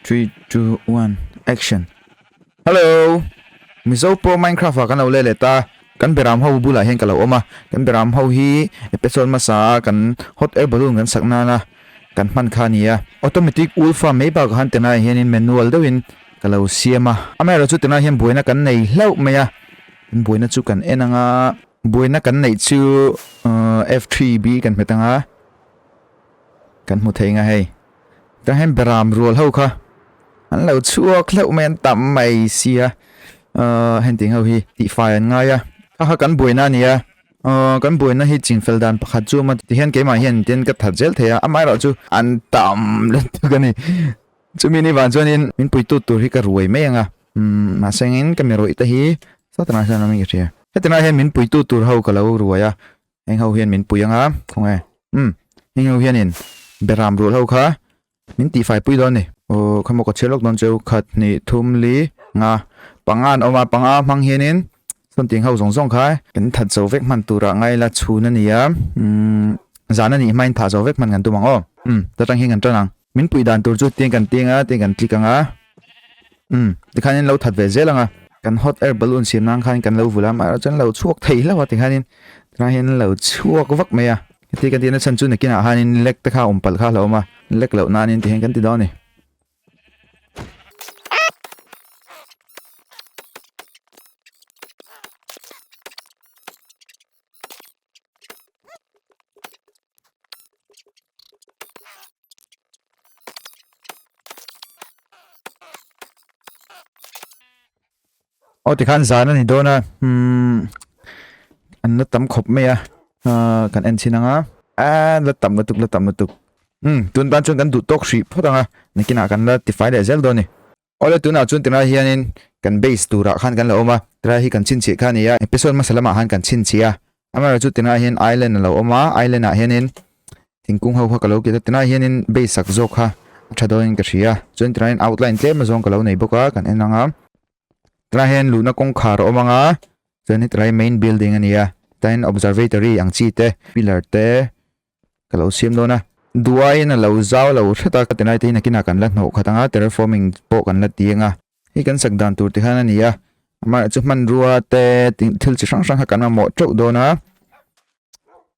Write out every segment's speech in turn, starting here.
Three, two, one, action. Hello! Mizo Pro Minecraft ah kan lo leh leh ta. Kan Beram ho bulah hian ka lo awm a. Kan Beram ho hi episode hmasa a kan hot air balloon kan sak nana kan hman kha a ni a. Automatic Wool Farm mai bakah khan tilaiah hianin manual deuhin ka lo siam a. Amaherawh chu tilaiah hian buaina kan nei hlauh mai a. Tin buaina chu kan en ang a. Buaina kan neih chu F three bi kan hmet ang a. Kan hmu thei ang a hei. Ka hem beram rual ho kha. An lo chuak hleuh mai an tam mai sia. Uh, hen ting ho hi ti fai an ngai a. Kha kha kan buaina nia. Uh, kan buaina hi chingfel dan pakhat chu ma ti hian keimah hian tin ka that zel thei a. Amai rawh chu an tam leh tu ka ni. Chumi ni van chuan in min puitut tur hi ka ruai mai anga. Um, ma sengin ka mi ruai te hi satana hian min ka hria. Hetina hian min puitut tur ho ka lo ruai a. heng ho hian min pui anga khawnge um heng ho hianin beram rual ho kha min tihfai pui dawn ni aw kha mawka chhiar lawk dawn cheu khat hni thum li nga panga an awm a panga hmang hianin sawn tih ang ho zawng zawng kha kan that zo vek hman turah ngai la chhun a nia um zan a nih hmain thah zo vek hman kan tum ang aw um ta tang hian kan tan ang. Min puih dan tur chu tiang kan tiang a, tiang kan click ang a. Umm, tikhanin lo that ve zel ang a. Kan hot air balloon siam nan khanin kan lo vul a, amaherawh chuan lo chhuak thei hlauh a tikhanin. Tunah hian lo chhuak vak mai a. Heti kan tih na chhan chu nakinah hianin lek te kha awm palh kha a lo awm a, lek loh nain tih hian kan ti dawn a ni. Aw tikhan zan a ni dawn a hmm an la tam khawp mai a kan en chin anga a la tam lutuk la tam lutuk um tun tan chuan kan duh tawk hrih phawt ang a nakinah kan la tifai leh zel dawn a ni Awle tunah chuan tunah hianin kan base turah khan kan lo awm a, tunah hi kan chhinchhih kha a ni a, episode hmasa lamah khan kan chhinchhih a, amaherawhchu chu tunah hian island a lo awm a, island ah hianin thingkung ho kha ka lo kît a, tunah hianin base sak zawk kha a tha dawngin ka hria, chuan tunah hian outline tlem azawng ka lo nei bawk a, kan en ang a, tunah hian luhna kawngkhar a awm ang a, chuan heti lai main building a ni a, tlaiin observatory ang chi te, pillar te, ka lo siam dawn a. Duai in a lo zau lo hret a, ka ti laite hi nakin ah kan la hnawh khat ang a, terraforming pawh kan la ti ang a. Hei kan sak dan tur te khan a ni a, amanah chu hmanrua te tih thil chi hrang hrang kha kan mamawh teuh dawn a,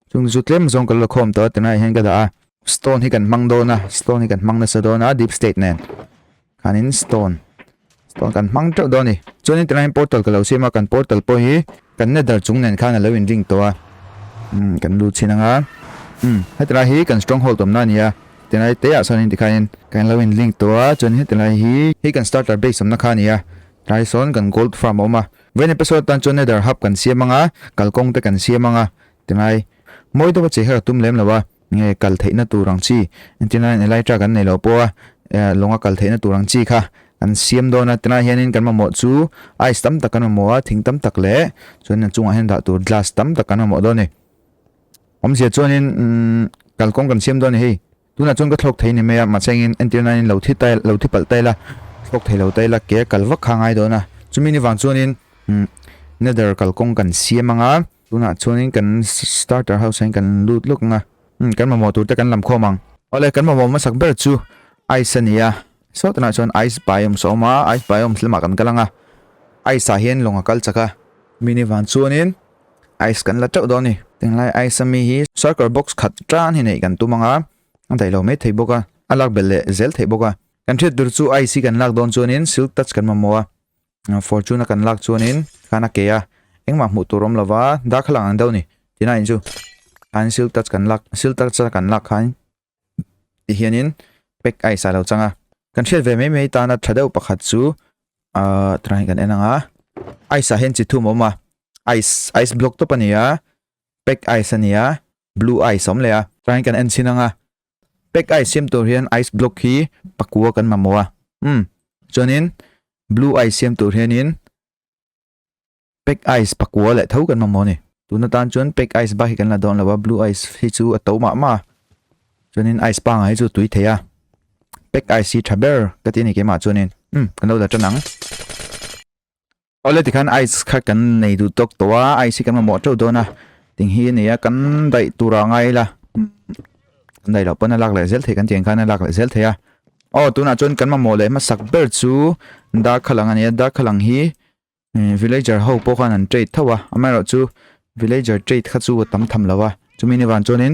chung chu tlem zawng ka lo la khawm tawh a, ti lai ah hian ka dah a. Stone hi kan hmang dawn a, stone hi kan hmang nasa dawn a, deep state nen. Khanin stone. Stone kan hmang teuh dawn a ni. Chuanin tilaiin portal ka lo siam a, kan portal pawh hi kan nether chung nen khan a lo inring tawh a. Umm, kan lu chhin ang a. Umm, heti lai hi kan stronghold awmna a ni a. Tilai teiah sawn in tikhain kan lo inring tawh a. Chuan heti lai hi, hi kan starter base awmna kha a ni a. Tlai sawn kan gold farm a awm a. Vain episode atan chuan nether hub kan siam ang a, kalkawng te kan siam ang a. Tilai mawi deuh a che hi a rawn tum lem lo a. Nge kal theihna tur ang chi? Entirna hian Elijah kan nei lo pawh a, lawnga kal theihna tur ang chi kha kan siam dawn a. Tunah hianin kan mamawh chu ice tam tak kan mamawh a, thing tam tak leh chuan a chungah hian dah tur glass tam tak kan mamawh dawn a ni. Awmzia chuanin kal kawng kan siam dawn a ni hei. Tunah chuan ka thlawk thei ni mai a, mahse engin entirna in lo thi ta ila, lo thi palh ta ila, thlawk thei lo ta ila, ke kal vak kha a ngai dawn a. Chumi ni vang chuanin Nether kal kawng kan siam ang a. Tunah chuanin kan starter house ahin kan lut lawk ang a, umm kan mamawh tur te kan lam khawm ang. Awle kan mamawh hmasak ber chu ice a ni a, saw tunah chuan ice biomes a awm a, ice biomes lamah kan kal ang a, ice ah hian lawng a kal chak a, mini vang chuanin ice kan la teuh dawn a ni. Heng lai ice ami hi circle box khat tan hi neih kan tum ang a, a daih lo mai thei bawk a, a lak bel leh zel thei bawk a, kan hriat tur chu ice hi kan lak dawn chuanin silk touch kan mamawh a, fortune a kan lak chuanin khana ke a engmah hmuh tur awm lova darthlalang ang deuh ni tina in chu an silk touch kan lak silk touch a kan lak khan ti hianin pack a exile lo chang a kan hriat ve mai mai tana tha deuh pakhat chu ah tuna hi kan en anga ice ah hian chi thum awm a ice ice block top ania pack ice ania blue ice awm leh a tuna hi kan en chhin anga Pack ai siam tur hian ice block hi pakua kan mamawh a. Umm. Chuanin blue ai siam tur hianin pack ice pakua leh tho kan mamawh a ni. Tuna tan chuan pack ice bike hi kan la dawn lo a, blue ice hi chu a to mah mah a. Chuanin ice panga hi chu a tui thei a. Pack ice hi tha ber ka ti a ni keimah chuanin. Umm. Kan lo la tan ang. Awle tikhan ice kha kan nei duh tawk tawh a ice hi kan mamawh teuh dawn a tih hi a ni a kan daih tur ah ngai la kan daih loh pawn a lak leh zel thei kan tih ang khan a lak leh zel thei a aw tunah chuan kan mamawh leh hmasak ber chu darkhalang a ni a darkhalang hi eh, villager ho pawh khan an trade tho a amaherawh chu villager trade kha chu a tam tham lo a chumi ni van chuanin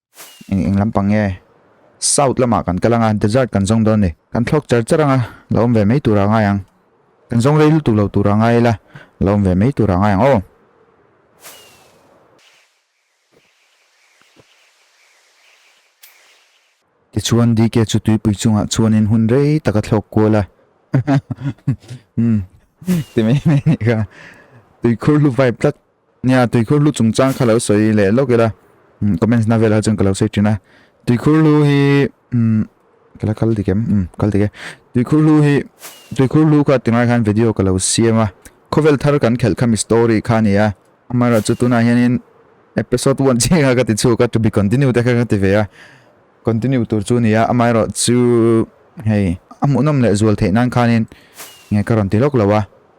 eng eng lampang nge south lamah kan kal anga desert kan zawng dawn ni kan thlawk char char anga la awm ve mai tura ngai ang kan zawng rei lutuk lo tura ngai ila la awm ve mai tura ngai ang aw tichuan DK chu tuipui chunga chuanin hun rei taka thlawk kuala ti mai mai ka tuikhur hlu vibe tlat Nia tuikhur hlu chung chang kha lo sawi leh lawk ila comments na vel ha chang ka lo sawi tina tuikhur hlu hi um kala kal dik em um kal dik e tuikhur hlu hi tuikhur hlu kha tingai khan video ka lo siam a khovel thar kan khel khami story kha nia amara chu tuna hianin episode 1 chi nga ka ti chu ka to be continue te kha ka ti ve a continue tur chu nia amai ro chu hei amunom le zual thei nan khanin nge ka ron ti lok lo a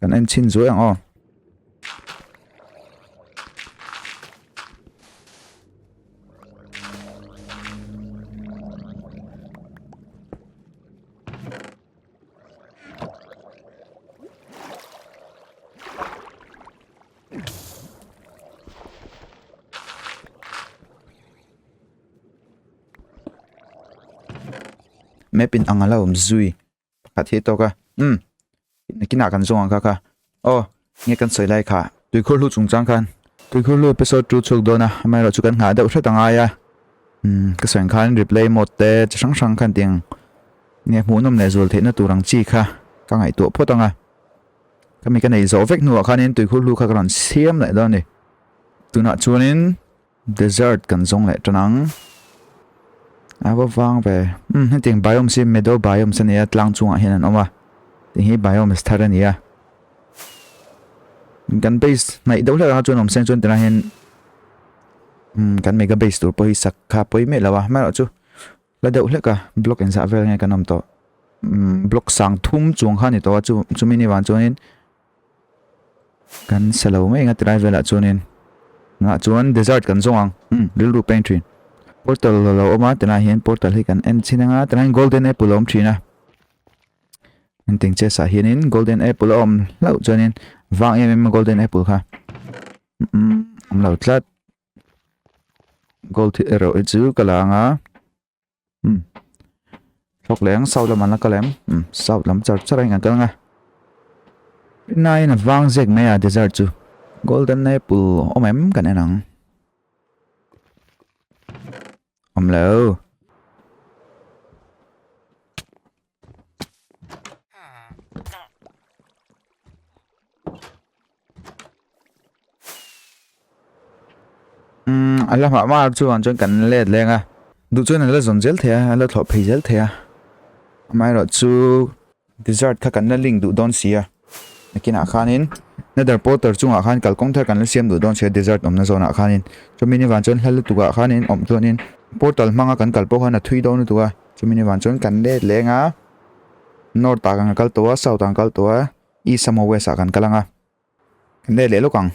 Kan en chin zuai ang aw. Map in ang alo awm zui. pakhat hi a tawk a, Umm, nakinah kan zawng ang kha kha, Aw, nge kan sawi lai kha? Tuikhur hlu chungchang khan Tuikhur hlu episode two chhuk dawn a, amaherawh chu kan nghah deuh hret a ngai a, umm, ka sawiin khan replay mode te chi hrang hrang kha an tih ang, nge hmuhnawm leh zual theihna tur ang chi kha ka ngaihtuah phawt ang a, ka mi ka nei zawh vek hnuah khanin Tuikhur hlu kha ka rawn siam laih dawn a ni, tunah chuanin Desert kan zawng leh tan ang. A va vang ve. Um, hetiang biomes hi meadow biomes a nia, tlang chungah hian an awm a. Tiang hi biomes thar a nia. Kan base hnaih deuh hlek a chuan awm seng chuan tunah hian um, kan mega base tur pawh hi sak kha pawi meh lo a. Hmaerawh chu La deuh hlek a, block in zah vel nge kan awm tawh? Umm block sang thum chuang kha ni tawh a, chu chumi ni vang chuanin kan sa lo mai nga tilai vela chuanin nga chuan desert kan zawng ang um rilru peng thin portal lo lo awma tilai hian portal hi kan en chin anga tilai golden apple a awm thin a an ting che sa hianin golden apple a awm hlauh chuanin vang em em golden apple kha um um lo tlat gold thil erawh hi chu ka la ang a umm hlawk leh ang south lamah na kal em umm south lam char char in kan kal ang a tin naiin a vang zek mai a desert chu golden apple awm em kan en ang awm lo um ala ma ma chu an chon kan let lenga du chon ala zon zel thei a ala thlawh phei zel thei a amah erawh chu dessert kha kan la link duh dawn sia. Nakinah khanin Nether Portal chungah khan kalkawng thar kan la siam duh dawn si a, Desert awmna zawnah khanin. Chumi ni vang chuan hla lutukah khanin awm chuanin Portal hmanga kan kal pawh khan a thui dawn lutuk a. Chumi ni vang chuan kan let leng a, North-ah kan kal tawh a, South-ah kan kal tawh a, East emaw West-ah kan kal ang a. Kan let leh lawk ang.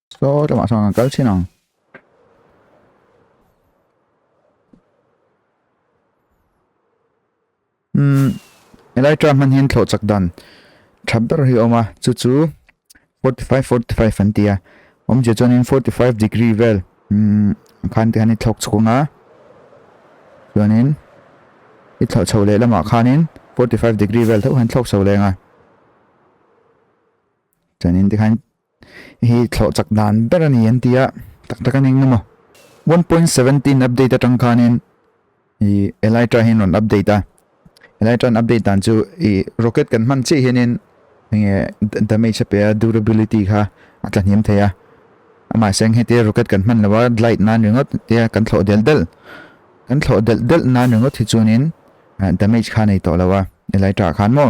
Saw tlama sang ang kal chin ang. Hmm, elai tra man hin thlo chak dan. Thap ber hi oma chu chu 45 45 an tia. Om je chuan in 45 degree vel. Hmm, khan te han i thlok chuk anga. Chuan in i thlok chho le lama khan in 45 degree vel thau han thlok chho le nga. Chuan in te khan Hi thlawh chak dan ber a ni an ti a, tak tak a ning a maw. One point seventeen update atang khanin i Elytra hi an rawn update a, Elytra an update dan chu i rocket kan hman chiah hianin enge damage a pe a, durability kha a tla hniam thei a, amah se enghetia rocket kan hman lo a, glide nan ringawt tia kan thlawh delh delh, kan thlawh delh delh nan ringawt hi chuanin damage kha a nei tawh lo a Elytra khan maw.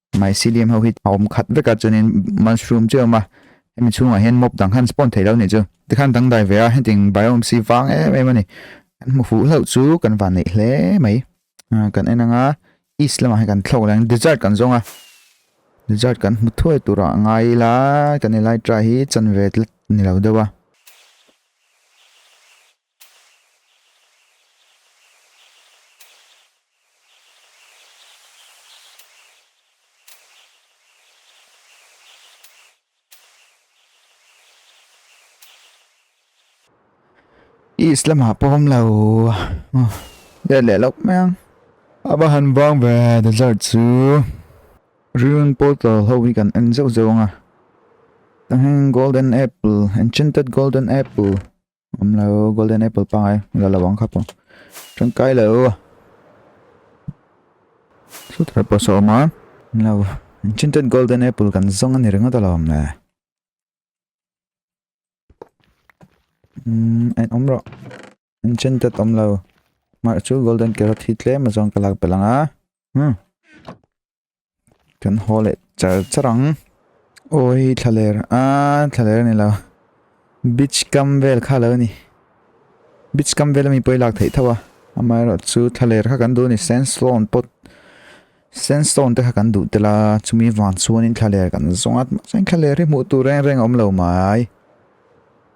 Mycelium ho hi a awm khat vek a, chuanin mushroom chu a awm a, hemi chhungah hian mob dang khan spawn theih lo anih chu. Tikhan dangdai ve a, hetiang biome si vang em em a ni, kan hmu fuh hlauh chu kan van neih hle mai. Aaa kan en ang a, east lamah hian kan thlawk leh ang, desert kan zawng a, desert kan hmu thuai turah a ngai ila, kan en lai try hi chanve tlat ni lo deuh a. East lamah pawm lo let leh lawk mai ang ava han vang ve ta zar chu rilna pawl tawh ho hi kan en zeuh zeuh ang a heng golden apple enchanted golden apple. awm la u golden apple pangai la lo ang kha tawh tangkai la u thut hrep pawh sawh a awm a no tinted golden apple kan zawng a ni ringawt a lo awm leh umm an awm rawh enchanted awm lo mah chu golden carrot hi tlem azawng ka lak belh ang a hmm. kan haw leh char char ang aw hei thla ler a thla ler ni lo beach kam vel kha lo ni beach kam vel mi pawh i lak theih tho a amah erawh chu thla ler kha kan duh a ni sandstone pawt sandstone te kha kan duh tel a chumi vang chuan in thla ler kan zawng a mahse thla ler hi hmuh tur reng reng a awm lo mai.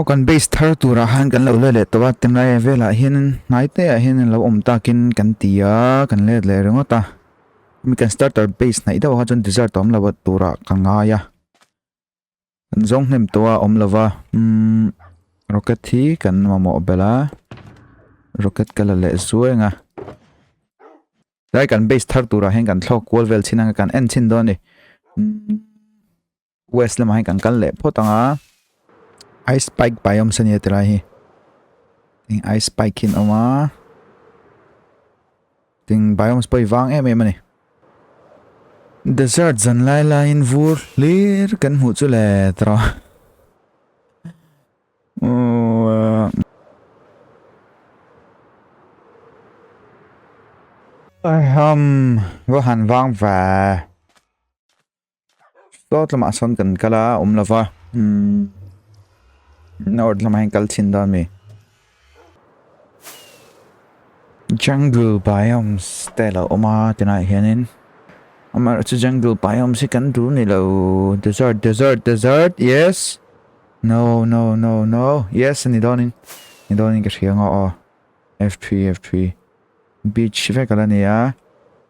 Aw kan base thar tur ah han kan lo let leh tawh a tin lai vel ah hian in hnai te ah hian in lo awm tak in kan ti a kan let leh ringawt a mi kan starter base hnaih deuh ah chuan desert awm lo tur ah ka ngai a. Kan zawng hnem tawh a awm lova umm rocket hi kan mamawh bela rocket ka la leh suaing a lai kan base thar tura hian kan thlawk kual vel chhin ang kan en chin dawn ni umm west lamah hian kan kal leh phawt ang a i spike pai awm sania tilai hi i spike hin awm a Tin biomes pawh i vang em em a ni. Desert zan lai lai in vur hlir kan hmuh chu le tara. Ai ham, vô han vang vè. Slot lamah sawn kan kal a, awm lo va. Hmm. North lamah hian kal thin dan mi. Jungle biomes te lo awm a, tunah hianin. Amar chu jungle biomes hi kan ru ni lo. Desert, desert, desert, yes. No, no, no, no. Yes, ni dawnin. Ni dawnin ka hria nga o. F3, F3. Beach vek ala ni a.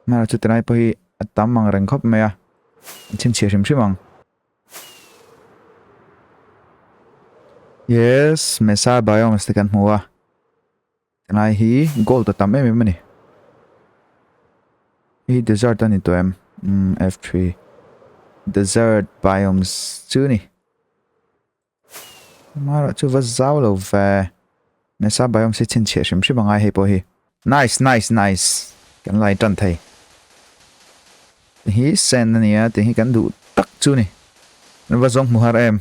Amar chu tunai pawh hi. A tam ang reng khawp mai a, a chhinchhiah hrim hrim ang. Yes, Messiah Biomes te kan hmu a. Ngai hi gold a tam em em ani. Hi desert ani to em. Mm, F3. Desert Biomes chu ni. Mara chu va zau lo ve. Mesa biome si chhin chhia hrim hrim angai hei pawh hi. Nice nice nice. Kan la intan thei. Hi sen ania tiang hi kan duh tak chu ni. Kan va zawng hmu har em.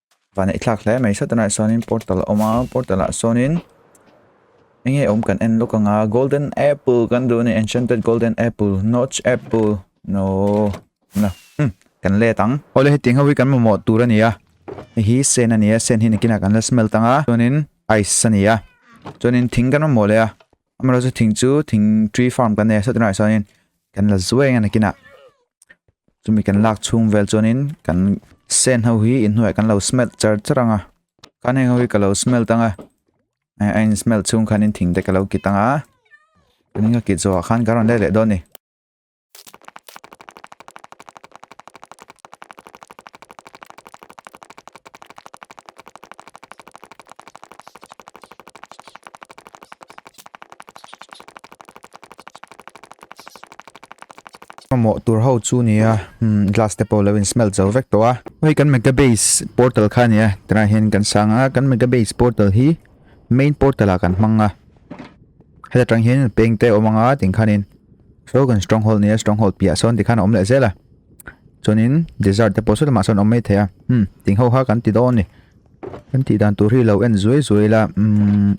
Vane i thlak hle mai sa tunah sawnin portal a awm a, portal ah sawnin eng nge awm kan en lawk anga golden apple kan duh ani enchanted golden apple notch apple no na um kan let ang ole heti ang hohi kan mamawh tur ania hei hi sen ania sen hi nakinah kan la smell tang a chuanin ice ania chuanin thing kan mamawh leh a amah chu thing chu thing tree farm kan nei a satilaiah sawnin kan la zuai eng a nakinah chumi kan lak chhung vel chuanin kan sen ho hi in hnuaiah kan lo smelt char char ang a kan heng ho hi ka lo smelt ang a eh a in smelt chhung khanin thingte ka lo kit ang a kan in ka kit zawhah khan ka rawn let leh dawn a ni. Mamawh tur ho chu nia hmm glass te pawh lo in smell zo vek tawh a hei kan mega base portal kha nia tunah hian kan sang a kan mega base portal hi main portal ah kan hmang a heta tang hian pengte awm ang a tiang khanin. Slogan stronghold nia stronghold piah sawn tikhan awm leh zel a chuanin desert te pawh saw lamah sawn awm mai thei a hmm ting ho ha kan ti dawn ni kan tih dan tur hi lo en zuai zuai la umm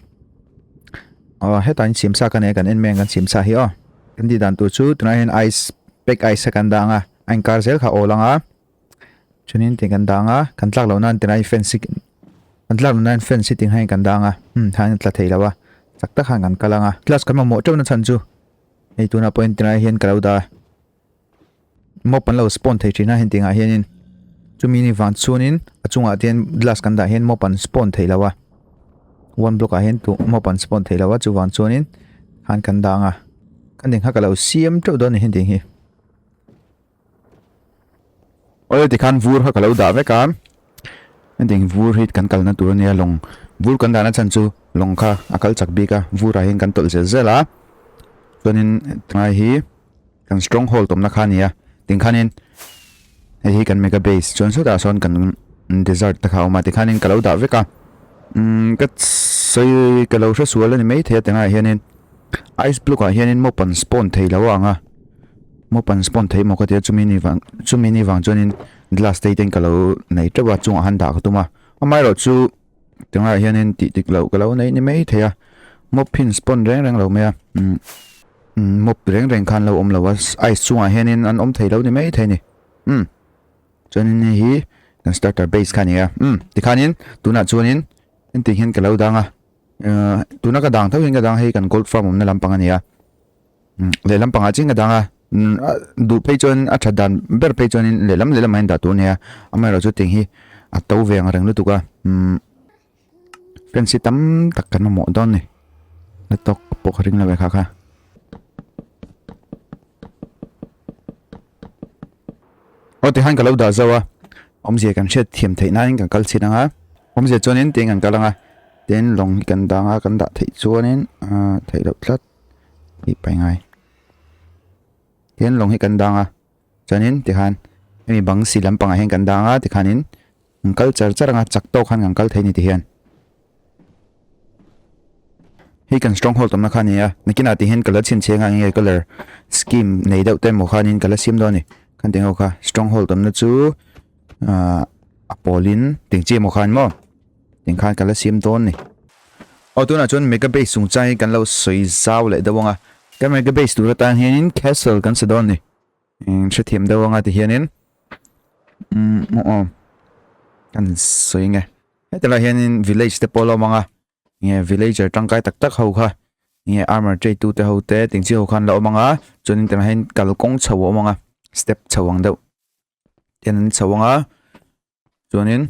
aw hetain siam sa ka nei kan en mai ang kan siam sa hi aw kan tih dan tur chu tunah hian ice pack ice a kan dang a a inkar zel kha awl ang a chuanin tin kan dang a kan tlak lo nan tin ai fence kan tlak lo nan fence ting hai kan dang a hmm thain tla thei lo a tak tak han kan kal ang a class kan mamawh teuh na chhan chu hei tuna pawh en ti lai hian ka lo da mop an lo spawn thei thin a heng tingah hianin chumi ni vang chuanin a chungah te hian glass kan dah hian mop an spawn thei lo a one block ah hian tu mop an spawn thei lo a chuvang chuanin han kan dang a ka ni ngha ka lo siam teuh dawn a ni heng ting hi Awle tikhan vur kha ka lo dah vek a Ending vur hi kan kalna tur ania lawng Vur kan dahna chhan chu lawng kha a kal chak bik a Vurah hian kan tawlh zel zel a Chuanin tunlai hi kan strong hold awmna kha ania Tikhanin hei hi kan mega base chuan sawtah sawn kan desert te kha awma tikhanin ka lo dah vek a Ka sawi ka lo hre sual ani mai thei a Tinlaiah hianin Ice block ah hianin mopan spawn thei lo ang a mopan spawn thei maw ka tia chumi ni vang chumi ni vang chuanin glass te ite'n ka lo nei teuh a chungah han dah ka tum a amai rawh chu tunga hianin tih tik lo ka lo nei ni mai thei a mop hin spawn reng reng lo mai a mop reng reng khan lo awm lo a ice chungah hianin an awm thei lo ni mai thei ni um chuanin hei hi kan starter base kha nia um tikhanin tunah chuanin engtin hian ka lo dang a tuna ka dang thauhin ka dang hei kan gold farm awmna lampang ania lehlam panga chin ka dang a duh phei chuan a tha dan ber phei chuan in lehlam lehlam ain dah tur nia amai rawh chu teng hi a to ve ang reng lutuk a fancy tam tak kan mamawh dawn ni la tawk pawh ka ring lo ve kha kha Aw tihan ka lo dah zo a, awmzia kan hriat thiam theih nain kan kal chhin ang a. Awmzia chuan in tiang kan kal ang a, tin lawng hi kan dang a, kan dah theih chuanin aah theih loh tlat, tih pai ngai. Tin lawng hi kan dang a, chuanin tihan hemi bang si lampangah hian kan dang a, tikhanin. Kan kal char char ang a, chak tawk khan kan kal thei ni tihian. Hei kan stronghold awmna khan nia, nakin ah tihin ka la chhinchheng a eng nge color scheme nei deuh te emaw khanin ka la siam dawn a ni. Khan tih ang ho kha, stronghold awmna chu ah, a pawlin teng chi emaw khan maw? Teng khan ka la siam dawn ni. Aw tunah chuan mega base chung changin kan lo sawi zau leh deuh ang a. Kan mega base tur atang hianin castle kan sa dawn ni. Eng hre thiam deuh anga ti hianin um mo o kan sawi nge heta la hianin village te polo manga nge villager tangkai tak tak ho kha nge armor chei tu te ho te ting chi ho khan la omanga chuanin tana hian kalkawng chho a awm anga step chho ang deuh ten an chho anga chuanin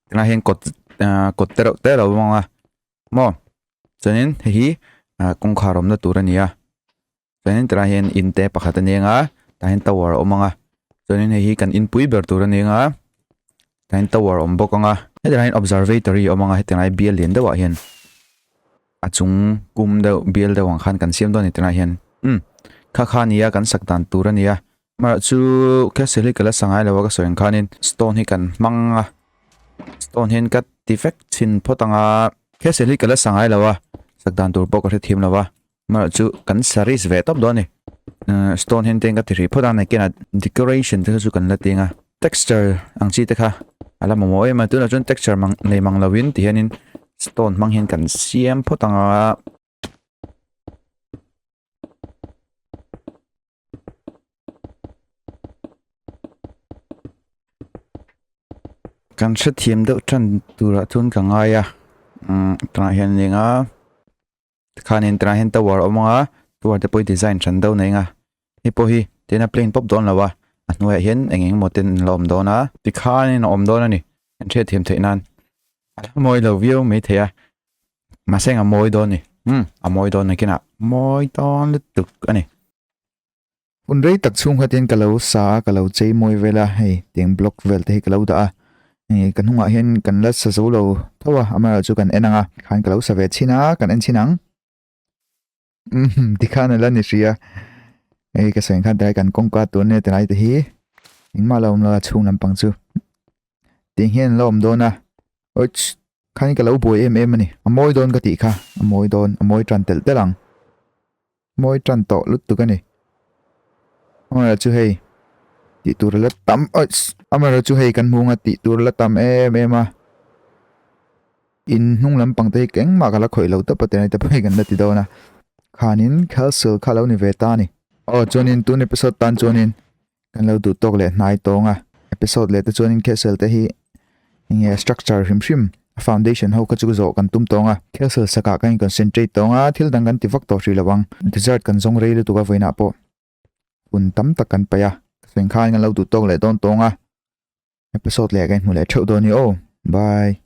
tunah hian kawt ah kawt te reuh te a lo lang a maw chuanin hei hi ah kawngkhar awmna tur a ni a chuanin tunah hian in te pakhat a ni ang a tah hian tower a awm ang a chuanin hei hi kan inpui ber tur a ni ang a tah hian tower a awm bawk ang a heti lai hian observatory a awm ang a hetiang lai bial lian deuhah hian a chung kum deuh bial deuh ang khan kan siam dawn a ni tunah hian umm kha kha a ni a kan sak dan tur a ni a. Mah chu castle hi ka la sa ngai lo a ka sawi ang khan in stone hi kan hmang a stone hian ka ti vek chhin phawt ang a castle hi ka la sa ngai lo a sak dan tur pawh ka hre thiam lo a mah chu kan sa ris ve tawp dawn ni eh, stone hian ten ka ti rih phawt ang nekin a decoration te chu kan la ting a texture ang chi te kha ala mo mo em a tuna chuan texture mang nei mang lo in ti hian in stone hmang hian kan siam phawt ang a Kan hrethiam deuh ṭan turah chuan ka ngai a umm tunah hian a ning a tikhanin tunah hian tower a awm ang a tower te pawh hi design ṭhan deuh nai anga. Hi pawh hi tiin a plain pawp dawn lo a, a hnuaiah hian eng eng maw ten an la awm dawn a. Tikhanin a awm dawn a ni, an hriat thiam theih nan a la mawi lo viau mai thei a, mahse eng a mawi dawn ni, umm a mawi dawn nakinah mawi tawn lutuk a ni. Hun rei tak chhungkhatin ka lo sa a, ka lo chei mawi vel a, hei tiang block vel te hi ka lo dah a, hei ka hnungah hian kan la sa zo lo tho a, amaherawhchu kan en ang a, tikhain ka lo sa ve chin a, kan en chin ang. Umm tikhan ala ni hria ei ka seng khan tai kan kawngka tur nge tilai te hi engmah lo awm lo a chhung lampang chu tih hian lo awm dawn a och khani ka lo buai em em ani a mawi dawn ka tih kha a mawi dawn a mawi tan tel tel ang mawi tan tawh lut tuk ani amara chu hei ti tur la tam och amara chu hei kan hmung a ti tur la tam em em a In hnung lam pang te hi keng mah ka la khawih lo tawp a tirani te pawh hi kan la ti dawn a, khanin Khalsel kha lo ni ve ta a ni. Aw chuanin tun episode tan chuanin kan lo duh tawk leh hnai tawng a, episode leh te chuanin Khalsel te hi enge structure hrim hrim a foundation ho kha chu zawh kan tum tawng a, Khalsel sakah kan in concentrate tawng a, thil dang kan ti vak tawh hrih lo ang, dessert kan zawng rei lutuk a vawiinah pawh kun tam tak kan paih a, ka sawi ang khan kan lo duh tawk leh dawn tawng a, episode leh ka in hmu leh theuh dawn ni aw, bye.